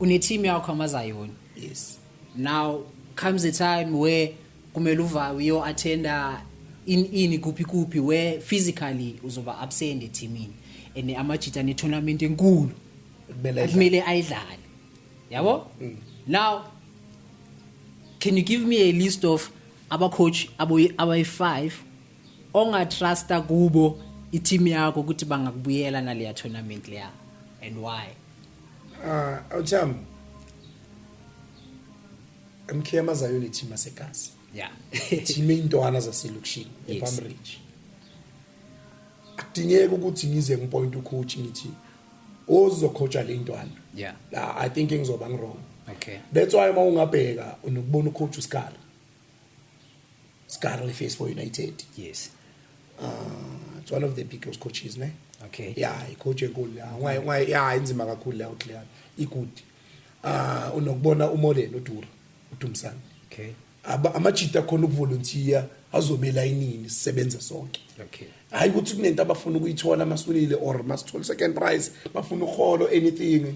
une team yakho amazayoni yes now comes a time where kumele uvawe uyo attenda in ini kuphi kuphi where physically uzoba absent ethimini and amajita ne tournament enkulu kumele ayidlale yabo mm. now can you give me a list of abacoach abayi-5 ongatrusta kubo i-team yakho ukuthi bangakubuyela naleya tournament leya and why ah uh, awuthami emkhema zayo le team asegazi yeah team intwana zaselokishini yes. ePalm Ridge akudingeki ukuthi ngize ngipoint ucoach ngithi ozokhotshwa le ntwana yeah la i think ngizoba ngirong okay that's why uma ungabheka unokubona ucoach uSkala Scarlett face for United. Yes. Uh, it's one of the biggest coaches, ne? Okay. Yeah, icoach enkulu la. Why why yeah inzima kakhulu la uClear. Igood. Ah unokubona uMolen uDura uDumsana. Okay. Aba amajita khona ukuvolunteer azobela inini sisebenze sonke. Okay. Hayi ukuthi kunento abafuna ukuyithola masunile or masithole second prize bafuna uholo anything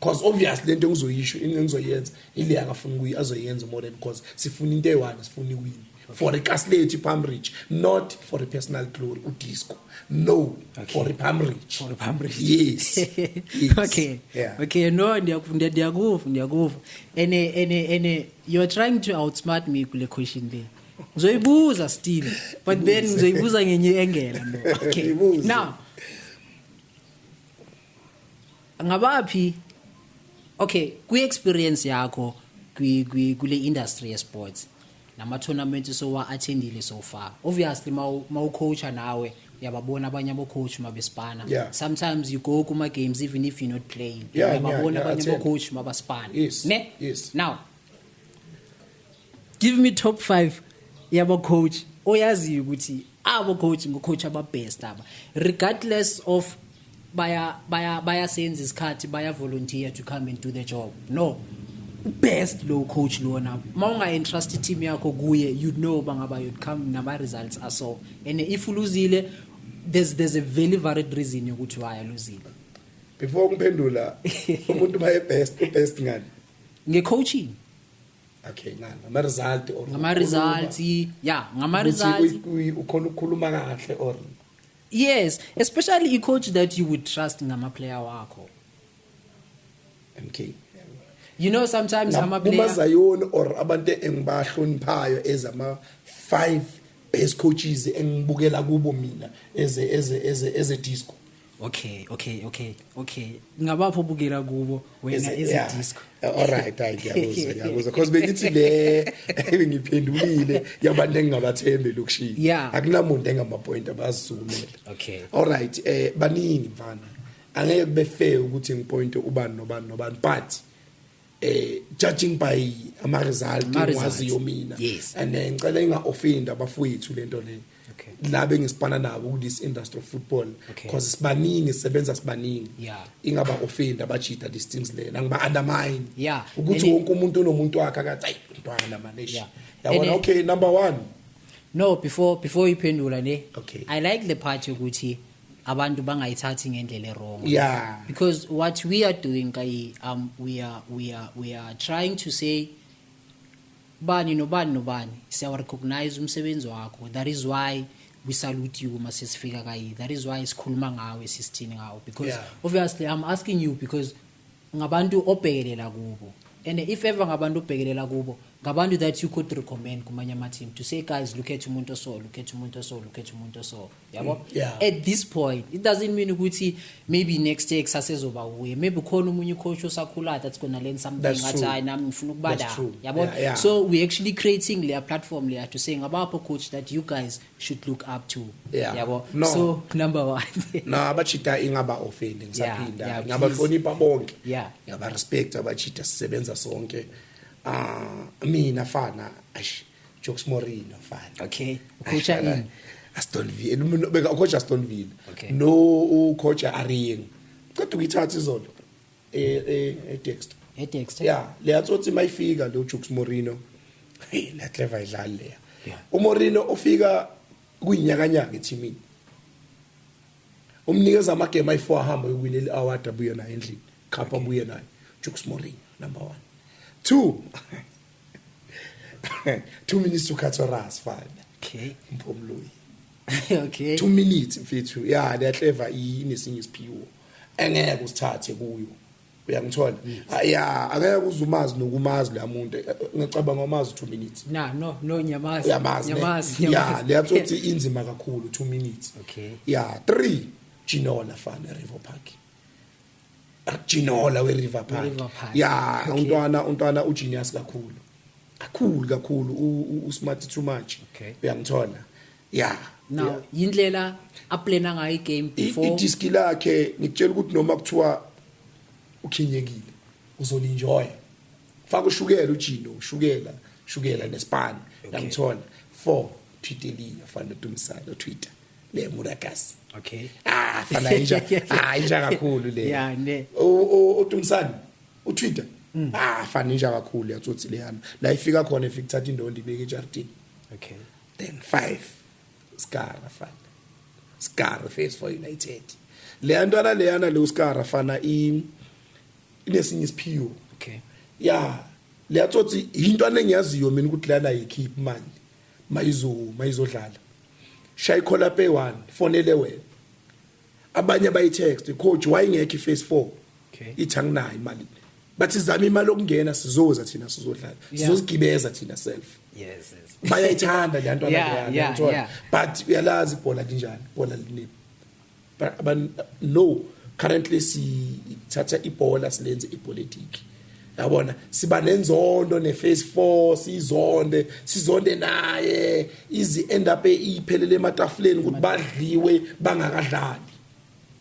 because obviously lento engizoyisho into engizoyenza ile akafuna ukuyi azoyenza more because sifuna into eyi-one sifuna iwini for ikasilethu ipalm ridge not for i-personal glory udisco no okay. for ipalm ridge for ipalm ridge yes, yes. okay yeah. okay no ndiyakuva ndiyakuva ndiyakuva and and and you're trying to outsmart me kule question there ngizoyibuza still but then ngizoyibuza ngenye engela no okay now ngabaphi okay kwi experience yakho kwi kwi kule industry ye sports nama tournament so wa attendile so far obviously mawu coacha nawe uyababona abanye abo coach mabesipana yeah. sometimes you go kuma games even if you're not playing yeah, uyababona yeah, yeah, abanye abo coach mabaspana yes, ne yes. now give me top 5 yaba coach oyaziyo ukuthi abo coach ngo coach aba best aba regardless of baya baya bayasenza isikhathi baya volunteer to come and do the job no best low coach lona uma unga entrust team yakho kuye you know bangaba you come nama results are so and if uluzile there's there's a very valid reason yokuthi why aluzile before ngiphendula umuntu baye best u best ngani nge coaching okay ngani ama result or ngama results yeah ngama results ukhona ukukhuluma kahle or yes especially i coach that you would trust ngama player wakho okay you know sometimes ama player uma zayoni or abantu engibahloniphayo ezama 5 best coaches engibukela kubo mina eze eze eze eze disco okay okay okay okay ngabapho bukela kubo wena ezidisco alright hayi ngiyakuzwa ngiyakuzwa because bengithi le ngiphendulile yabantu engingabathembi lokushini akunamuntu engamapoint abazizumela okay alright eh baningi mfana angeke kube fair ukuthi ngipointe ubani nobani nobani but eh judging by ama result ngwaziyo mina yes. and eh, ngicela inga offend abafowethu lento le okay. la bengisipana nabo ku this industry of football okay. cause sibaningi sebenza sibaningi yeah. ingaba offend abajida these things lena ngiba undermine yeah. ukuthi wonke umuntu unomuntu wakhe akathi ayi mntwana manesh yeah. yabona okay number 1 no before before iphendula ne okay. i like the part yokuthi abantu bangayithathi ngendlela erong yeah. because what we are doing kayi um, we, are, we, are, we are trying to say bani nobani nobani siyawarecognize umsebenzi wakho that is why we salute you uma sesifika kayi that is why sikhuluma ngawe sisithini ngawo because yeah. obviously i'm asking you because ngabantu obhekelela kubo and if ever ngabantu obhekelela kubo ngabantu that you could recommend kumanye ama-team to say guys look at umuntu oso look at umuntu oso look at umuntu oso yabo mm, yeah. at this point it doesn't mean ukuthi maybe next year kusase ezoba wuye maybe khona omunye ucoach osakhulayo that's gonna learn something athi hayi nami ngifuna ukubala yabo yeah, yeah. so we actually creating leya platform leya to say ngabapho coach that you guys should look up to Yeah. yabo No. so number one no abachita ingaba offend Yeah, yeah, ngisaphinda please. ngiyabahlonipha bonke Yeah. ngiyaba respect abachita sisebenza sonke ah mina fana ash jokes morino fana okay Ash, ukhutha fana, ini Aston Villa no, no, beka coach Aston Villa Okay. no u coach Aring qeda ukuyithatha izolo eh eh eDexter eDexter yeah leya tsotsi mayifika lo Jukes Morino hey la clever idlali leya yeah. uMorino ufika kuyinyakanyaka ethimini umnikeza amagame ayi4 ahamba uyiwine le award abuye naye endlini khapha abuye naye Jukes Morino number 1 2 2 minutes to cut your ass fine okay mphomloyi okay 2 minutes mfethu yeah le clever inesinye isiphiwo engeke usithathe kuyo uyangithola mm. ah, ya angeke uzumazi nokumazi la muntu eh, eh, ngicabanga umazi 2 minutes na no no nyamazi nyamazi nyamazi ya leyathi uthi inzima kakhulu 2 minutes okay ya 3 Ginola fan River Park Ginola we River Park ya untwana untwana u genius kakhulu kakhulu kakhulu u smart too much uyangithola yeah now yeah. yindlela aplana ngayo igame before idiski lakhe ngikutshela ukuthi noma kuthiwa ukhinyekile uzolinjoya faka ushukela ujino ushukela shukela nespan namthola four twiteli afana nodumisana otwitter le murakas okay ah fana inja ah inja kakhulu le yeah ne odumisana utwitter mm. ah fana inja kakhulu yatsotsi leyana la ifika khona ifika thatha indondo ibeke ejardini okay then 5 skara fana skara face for united leya ntwana leyana le uskara fana i inesinye isiphiwo okay ya leya tsotsi intwana engiyaziyo mina ukuthi lana yikhip manje mayizo mayizodlala shaya ikhola pay 1 fonele wena abanye bayitext coach wayengekho iphase 4 okay ithi anginayo imali bathi zama imali okungena sizoza thina sizodlala sizozigibeza thina self yes yes bayayithanda le nto abantwana but uyalazi ibhola linjani ibhola linini but no currently sithatha ibhola silenze ipolitiki yabona siba nenzondo neface four sizonde sizonde naye izi end up iphelele ematafuleni ukuthi badliwe bangakadlali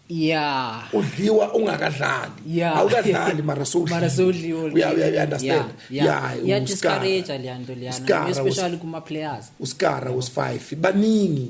yeah udliwa ungakadlali yeah. awukadlali mara sowudliwa mara sowudliwa uya uya understand yeah yeah discourage lento liyana especially kuma players uskara was 5 baningi